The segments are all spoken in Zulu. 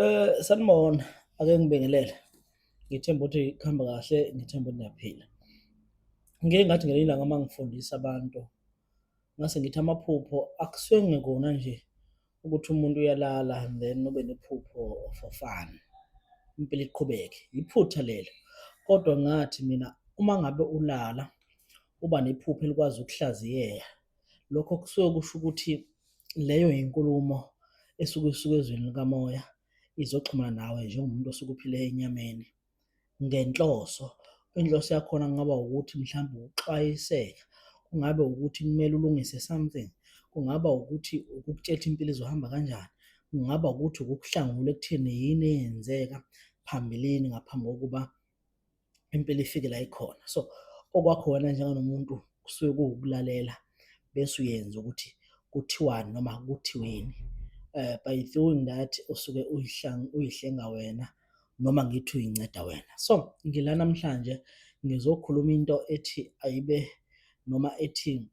Eh sanibona ake ngibingelele. Ngithemba ukuthi kuhamba kahle, ngithemba ukuthi niyaphila. Ngike ngathi ngelinye ilanga uma ngifundisa abantu ngase ngithi amaphupho akusuke ngekona nje ukuthi umuntu uyalala and then ube nephupho for fun. Impilo iqhubeke. Yiphutha lelo. Kodwa ngathi mina uma ngabe ulala uba nephupho elikwazi ukuhlaziyeka lokho kusuke kusho ukuthi leyo yinkulumo esuke isuke ezweni likamoya izoxhumana nawe njengomuntu osuke uphile enyameni ngenhloso inhloso yakhona kungaba ukuthi mhlawumbe ukuxwayiseka kungabe ukuthi kumele ulungise something kungaba ukuthi ukukutshela impilo izohamba kanjani kungaba ukuthi ukukuhlangula ekutheni yini eyenzeka phambilini ngaphambi kokuba impela ifike la ikhona so okwakho wena njenganomuntu kusuke kuwukulalela bese uyenza ukuthi kuthiwani noma kuthiweni uh, by doing that usuke uyihlenga wena noma ngithi uyinceda wena so ngila namhlanje ngizokhuluma into ethi ayibe noma ethi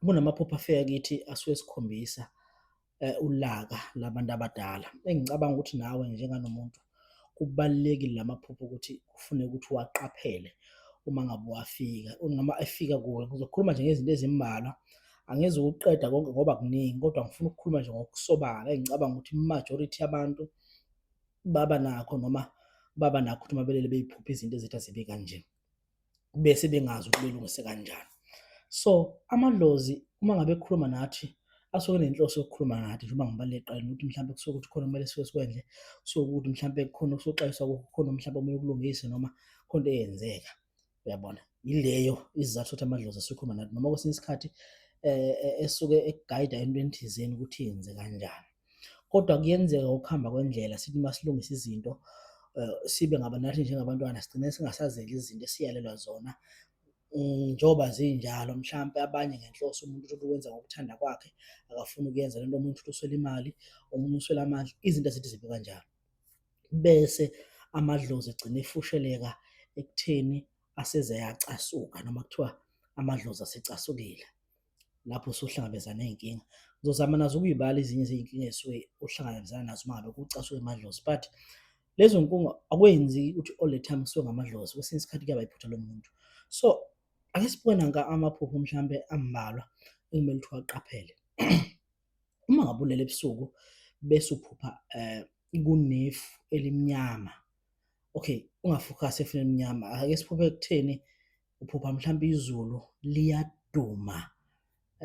kunamaphupho afika kithi asuke sikhombisa eh, ulaka labantu abadala engicabanga ukuthi nawe njenganomuntu kubalulekile lamaphupho ukuthi kufune ukuthi waqaphele uma ngabe wafika noma efika kuwe ngizokhuluma nje ngezinto ezimbalwa angeze ukuqeda konke ngoba kuningi kodwa ngifuna ukukhuluma nje ngokusobala engicabanga ukuthi majority yabantu baba nakho noma baba nakho ukuthi mabelele beyiphupha izinto ezithi azibe kanje bese bengazi ukuthi belungise kanjani. So amadlozi uma ngabe ekhuluma nathi asuke nenhloso yokukhuluma nathi njengoba ngibalule ekuqaleni ukuthi mhlawumbe kusuke ukuthi khona kumele sike sikwendle, kusuke ukuthi mhlawumbe kukhona okusuxwayiswa kukho, kukhona mhlawumbe okumele ukulungise noma khona into eyenzeka. Uyabona? Yileyo isizathu sokuthi amadlozi asuke ekhuluma nathi noma kwesinye isikhathi eh, eh, esuke ekugayida entweni thizeni ukuthi yenze kanjani. Kodwa kuyenzeka ukuhamba kwendlela sithi uma silungisa izinto eh, sibe ngaba nathi njengabantwana sigcine singasazeli izinto esiyalelwa zona mm, njengoba zinjalo mhlampe abanye ngenhloso umuntu uthi ukwenza ngokuthanda kwakhe akafuni ukuyenza lento omunye uthi uswela imali omunye uswela amandla izinto ezithi zibe kanjalo bese amadlozi egcine efusheleka ekutheni aseze yacasuka noma kuthiwa amadlozi asecasukile lapho usuhlangabezana ney'nkinga. Ngizozama nazo ukuyibala ezinye zey'nkinga esuke uhlangabezana nazo uma ngabe kucasuke amadlozi but lezo nkinga akwenzi ukuthi all the time kusuke ngamadlozi, kwesinye isikhathi kuyaba iphutha lomuntu. So ake sibuke nanka amaphupho mhlawumbe ambalwa ekumele ukuthi uwaqaphele. Uma ngabe ulele ebusuku bese uphupha eh, kunefu elimnyama, okay ungafokhasi efeni elimnyama, ake siphuphe ekutheni uphupha mhlawumbe izulu liyaduma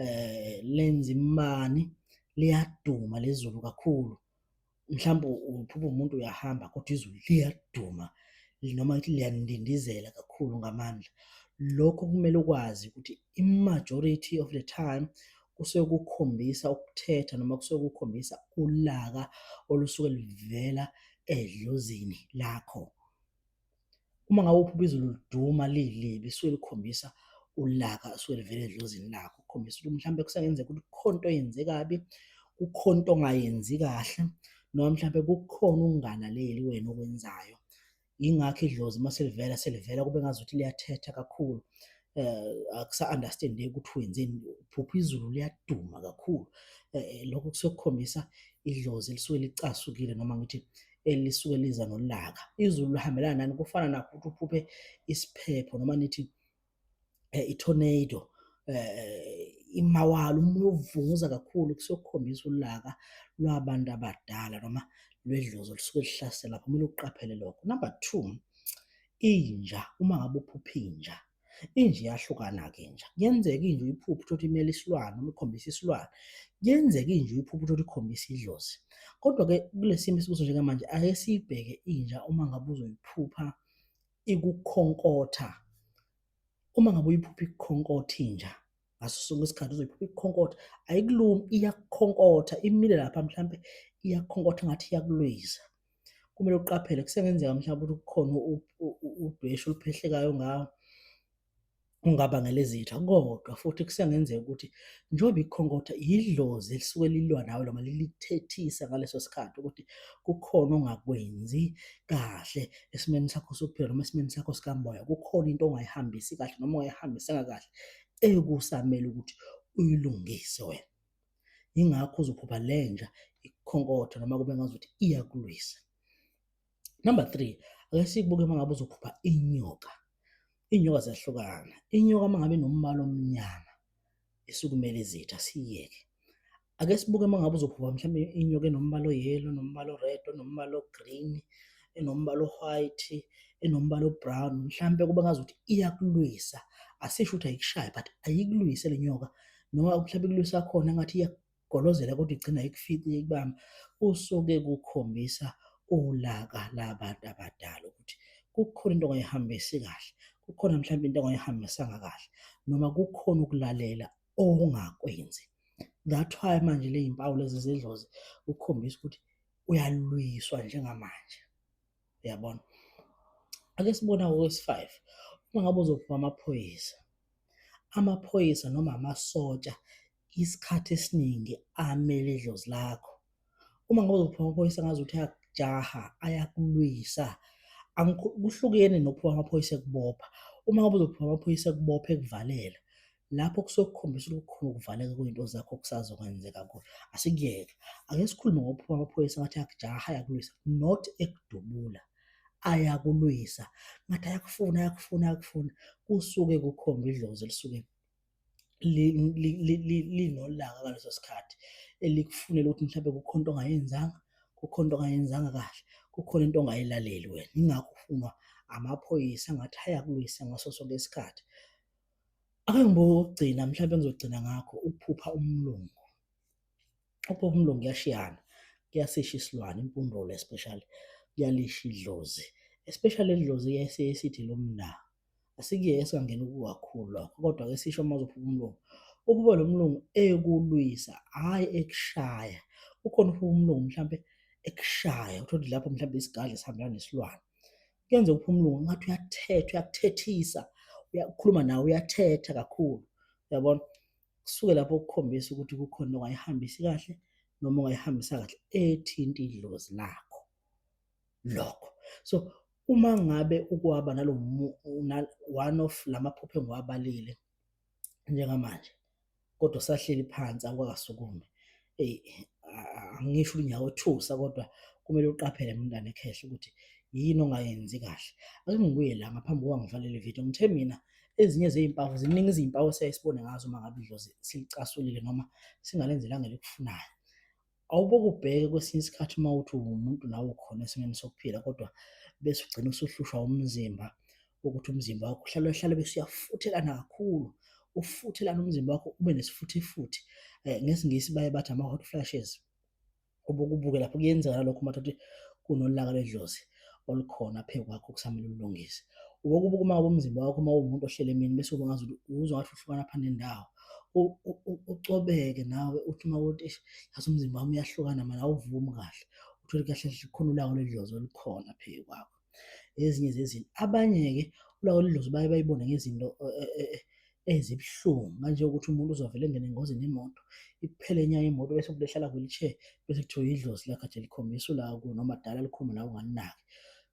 eh lenza imani liyaduma lezulu kakhulu mhlawumbe uphupha umuntu uyahamba kodwa izulu liyaduma noma ukuthi liyandindizela kakhulu ngamandla lokho kumele ukwazi ukuthi i-majority of the time kusuke kukhombisa ukuthetha noma kusuke kukhombisa ulaka olusuke luvela edlozini lakho uma ngabe uphupha izulu liduma lilibi suke likhombisa ulaka suke livele edlozini lakho kukhombisa ukuthi mhlawumbe kusengenzeka ukuthi kukhona into oyenze kabi kukhona into ongayenzi kahle noma mhlawumbe kukhona ukungalaleli wena okwenzayo yingakho idlozi uma selivela selivela kube ngazuthi liyathetha kakhulu eh akusa-understandeki ukuthi wenzeni phupha izulu liyaduma kakhulu eh, eh lokho kusuke kukhombisa idlozi elisuke licasukile noma ngithi elisuke liza nolaka izulu lihambelana nani kufana nakho ukuthi uphuphe isiphepho noma nithi eh, i-tornado eh, imawala umoya uvunguza kakhulu kusokukhombisa ulaka lwabantu abadala noma lwedlozi olusuke lihlasela kumele uqaphele lokho number two inja uma ngabe uphupha inja Inja iyahlukana-ke inja. Kuyenzeka inja uyiphuphe uthole imele isilwane noma ikhombisa isilwane. Kuyenzeka inja uyiphuphe uthole ikhombisa idlozi. Kodwa-ke kule simo esikuso njengamanje ake siyibheke inja uma ngabe uzoyiphupha ikukhonkotha. Uma ngabe uyiphupha ikukhonkotha inja, ngaso sonke isikhathi uzoyiphupha ikukhonkotha ayikulumi iyakukhonkotha imile lapha mhlampe iyakukhonkotha ngathi iyakulwisa kumele uqaphele kusengenzeka mhlawumbe ukuthi kukhona udweshu oluphehlekayo ngawo ungabangela izitha kodwa futhi kusengenzeka ukuthi njengoba ikhonkotha yidlozi elisuke lilwa nawe noma lilithethisa ngaleso sikhathi ukuthi kukhona ongakwenzi kahle esimeni sakho sokuphila noma esimeni sakho sikamoya kukhona into ongayihambisi kahle noma ongayihambisanga kahle ekusamele ukuthi uyilungise wena. Yingakho uzophupha lenja ikhonkotha noma kube ngazuthi iyakulwisa. Number three, ake sikubuke uma ngabe uzophupha inyoka. Iy'nyoka ziyahlukana. Inyoka uma ngabe inombala omnyama isukumele izitha, siyeke. Ake sibuke uma ngabe uzophuka mhlawumbe inyoka enombala o-yellow, enombala o-red, onombala o-green, enombala o-white, enombala o-brown, mhlawumbe kuba ngazi ukuthi iyakulwisa. Asisho ukuthi ayikushaye but ayikulwise le nyoka noma mhlawumbe ikulwisa khona engathi iyakugolozela kodwa igcina ayikufici ikubamba. Kusuke kukhombisa ulaka labantu abadala ukuthi kukhona into ongayihambisi kahle, kukhona mhlawumbe into ongayihambisanga kahle noma kukhona ukulalela ongakwenzi that why manje le yimpawu lezi zidlozi ukukhombisa ukuthi uyalwiswa njengamanje uyabona ake sibona okwesi-five uma ngabe uzophuma amaphoyisa amaphoyisa noma amasotsha isikhathi esiningi amele idlozi lakho Uma ngabe uzophuma amaphoyisa ngazi ukuthi ayakujaha, ayakulwisa. Kuhlukene nokuphuma amaphoyisa ekubopha. Uma ngabe uzophuma amaphoyisa ekubopha ekuvalela, lapho kusuke kukhombisa ukuthi kukhona ukuvaleka kwey'nto zakho okusazokwenzeka kuwe. Asikuyeke, ake sikhulume ngokuphuma amaphoyisa ngathi ayakujaha, ayakulwisa, not ekudubula. Ayakulwisa, ngathi ayakufuna, ayakufuna, ayakufuna, kusuke kukhomba idlozi elisuke linolaka ngaleso sikhathi elikufunela ukuthi mhlawumbe kukhona into ongayenzanga, kukhona into ongayenzanga kahle, kukhona into ongayilaleli wena. Yingakho ufunwa amaphoyisa ngathi ayakulwisa ngaso sonke isikhathi. Akangibuki okugcina mhlawumbe engizogcina ngakho ukuphupha umlungu. Ukuphupha umlungu kuyashiyana, kuyasisha isilwane, impundolo especially, kuyalisha idlozi especially idlozi esithi lomna. Asikuye esingangena kukakhulu lokho kodwa ke sisho uma uzophuma umlungu. Uphuma lo mlungu ekulwisa hhayi ekushaya. Ukhona uphuma umlungu mhlampe ekushaya uthole ukuthi lapho mhlampe isigadla sihambela nesilwane. Kuyenza uphuma umlungu ngathi uyathetha uyakuthethisa uyakhuluma nawe uyathetha kakhulu uyabona kusuke lapho ukukhombisa ukuthi kukhona ongayihambisi kahle noma ongayihambisa kahle ethinta idlozi lakho. lokho so uma ngabe ukwaba nalo one of lamaphupho engiwabalile njengamanje kodwa sahleli phansi akwakasukume eyi angisho unyawo thusa kodwa kumele uqaphele mntana ekhehle ukuthi yini ongayenzi kahle ake ngibuye la ngaphambi kokuba ngivalele ividiyo ngithe mina ezinye zezimpawu ziningi izimpawu esiyayisibone ngazo uma ngabe idlozi silicasulile noma singalenzelanga elikufunayo Awuboke ubheke kwesinye isikhathi uma uthi uwumuntu nawe ukhona esimeni sokuphila kodwa bese ugcina usuhlushwa umzimba ukuthi umzimba wakho uhlale uhlale bese uyafuthelana kakhulu ufuthelana umzimba wakho ube nesifuthifuthi um eh, ngesingisi baye bathi ama-hot flashes ubukubuke lapho kuyenzeka nalokho uma ukuthi kunolaka ledlozi olukhona phezu kwakho okusamele ulungise. Uboke ubukuma komzimba wakho uma uwumuntu ohlele emini bese uba ngazi ukuthi uzwa ngathi uhlukana phana nendawo. Ucobeke nawe uthi uma ukuthi eish yazi umzimba wami uyahlukana manje awuvumi kahle. Uthole kahle kahle khona ulaka lwedlozi olukhona phezu kwakho. Ezinye zezinto. Abanye-ke ulaka lwedlozi baye bayibone ngezinto ezibuhlungu manje ukuthi umuntu uzovele engene engozini yemoto iphele nya imoto bese kulehlala kwilishe bese kuthiwa idlozi lakhe nje likhombisa ula ku noma dala likhomba la unganaki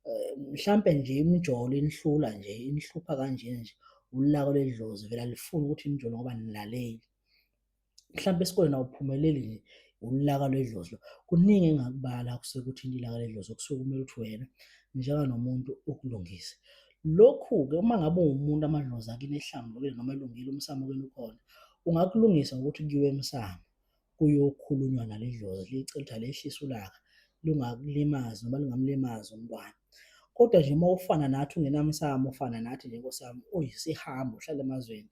eh, mhlampe nje imjolo inihlula nje inihlupha kanje nje ulako ledlozi vela lifuna ukuthi imjolo ngoba nilaleli mhlawumbe esikoleni awuphumeleli nje ulaka lwedlozi lo kuningi engakubala kusuke kuthinta ilaka ledlozi okusuke kumele ukuthi wena njenga nomuntu ukulungise lokhu-ke uma ngabe uwumuntu amadlozi akini ehlambulukile noma elungile umsamo kini ukhona ungakulungisa ngokuthi kuyiwe emsamo kuyokhulunywa naledlozi licela ukuthi alehlise ulaka lungakulimazi noma lingamlimazi umntwana kodwa nje uma ufana nathi ungenamsamo ufana nathi nje nkosiyami uyisihambo uhlala emazweni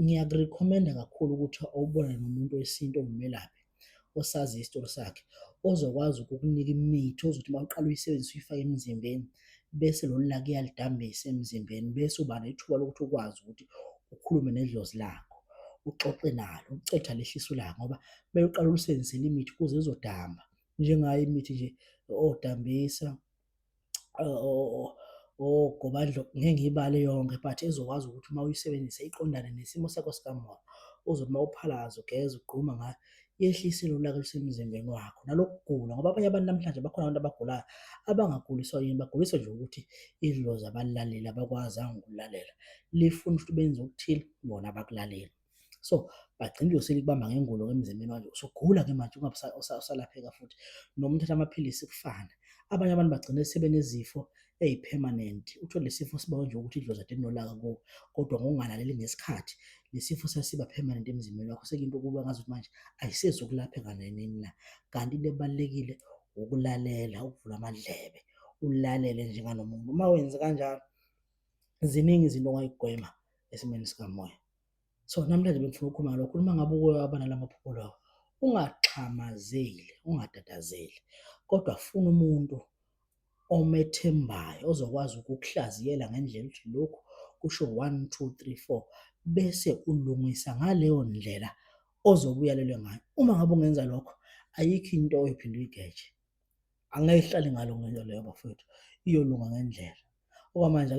ngiyakurekhomenda kakhulu ukuthi awubone nomuntu wesintu ongumelaphi osazi isitori sakhe ozokwazi ukukunika imithi ozothi uma uqala uyisebenzisa uyifake emzimbeni bese lolu laka iyalidambisa emzimbeni bese uba nethuba lokuthi ukwazi ukuthi ukhulume nedlozi lakho uxoxe nalo ucetha lehlisa ulaka ngoba mele uqala ulusebenzisele imithi kuze izodamba njengayo imithi nje odambisa ogobandlo ngeke ngiyibale yonke but ezokwazi ukuthi uma uyisebenzisa iqondane nesimo sakho sikamoya uzothi uma uphalaza ugeza ugquma ngayo yehlise lolaka lusemzimbeni wakho nalokugula ngoba abanye abantu namhlanje bakhona abantu abagulayo abangaguliswa yini baguliswa nje ukuthi idlozi abalaleli abakwazanga ukulalela lifuna ukuthi benze okuthile bona bakulalele so bagcina uyosele kubamba ngengulo ke emzimbeni manje usugula ke manje usalapheka futhi noma uthatha amaphilisi kufana abanye abantu bagcina sebenezifo eyi-permanent uthole lesifo siba nje ukuthi idlozi ade linolaka kuwo kodwa ngokungalaleli ngesikhathi lesifo sasiba permanent emzimbeni wakho sekuyinto ukuba ngazi ukuthi manje ayisezi ukulapheka nenini la kanti into ebalulekile ukulalela ukuvula amadlebe ulalele njenganomuntu uma wenze kanjalo ziningi izinto ongayigwema esimweni sikamoya. So namhlanje bengifuna ukukhuluma ngalokho, uma ngabe uke waba nala maphupho lawo, ungaxhamazeli, ungatatazeli kodwa funa umuntu omethembayo ozokwazi ukukuhlaziyela ngendlela ukuthi lokhu kusho one, two, three, four bese ulungisa ngaleyo ndlela ozobe uyalelwe ngayo. Uma ngabe ungenza lokho, ayikho into oyiphinde uyigeje. Angeke ihlale ngalo ngento leyo bafowethu, iyolunga ngendlela. Okwamanje ake